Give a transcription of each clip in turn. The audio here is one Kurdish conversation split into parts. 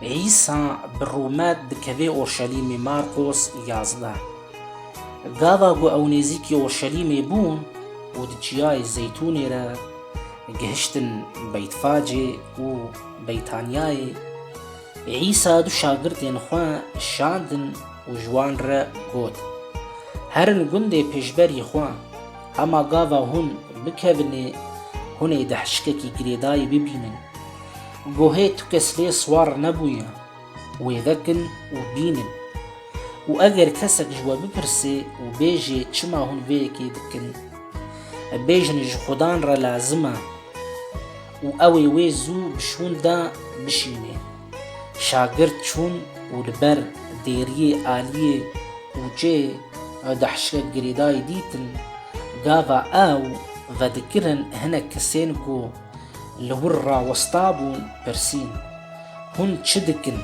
Îsa bi rûmet dikevê Urşelîmê Markos yazdeh. Gava ku ew nêzîkî Urşelîmê bûn û di Çiyayê Zeytûnê re gihiştin Beytfacê û Beytaniyayê, Îsa du şagirdên xwe şandin û ji wan re got, Herin gundê pêşberî xwe. Hema gava hûn bikevinê hûn ê di hişkekî girêdayî bibînin. Gohê tu kes lê siwar nebûye, wê vekin û bînin. Û eger kesek ji we bipirsê û bêjê çima hûn vê yekê dikin, bêjin ji xudan re lazim e û ew ê wê zû bi şûn de bişînê. Şagirt çûn û li ber dêriyê aliyê ûçê di hişkek girêdayî dîtin. Gava ew vedikirin hinek kesên ku li wir re westabûn pirsîn, Hûn çi dikin?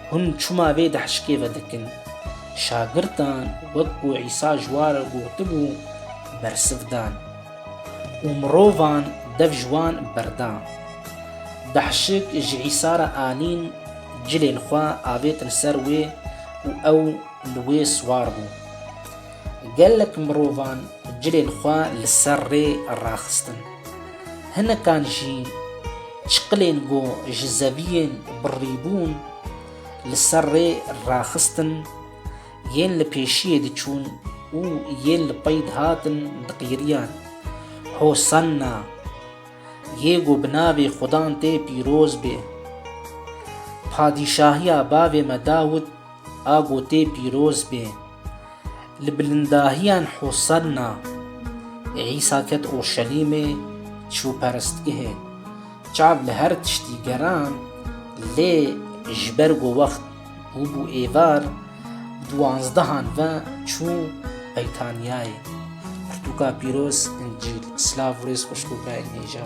Hûn çima vê di hişkê vedikin? Şagirtan wek ku Îsa ji wan re gotibû bersiv dan. Û mirovan dev ji wan berda. Behşik ji Îsa re anîn cilên xwe avêtin ser wê û ew li wê siwar bû. Gelek mirovan cilên xwe li ser rê raxistin. Hinekan jî çiqilên ku ji zeviyên birrîbûn li ser rê raxistin, Yên li pêşiyê diçûn û yên li pey dihatin diqîriyan. Hosanna! Yê ku bi navê Xudan tê pîroz bê. Padîşahiya bavê me Dawûd a ku tê pîroz bê. Li bilindahiyan Hosanna! Îsa ket Urşelîmê, çû perestgehê. Çav li her tiştî geran, lê ji ber ku wext û bû êvar duwanzdehan ve çû Beytaniyayê. Pirtûka pîroz, Încîl, silav û rêz xweş bo birayên hêja.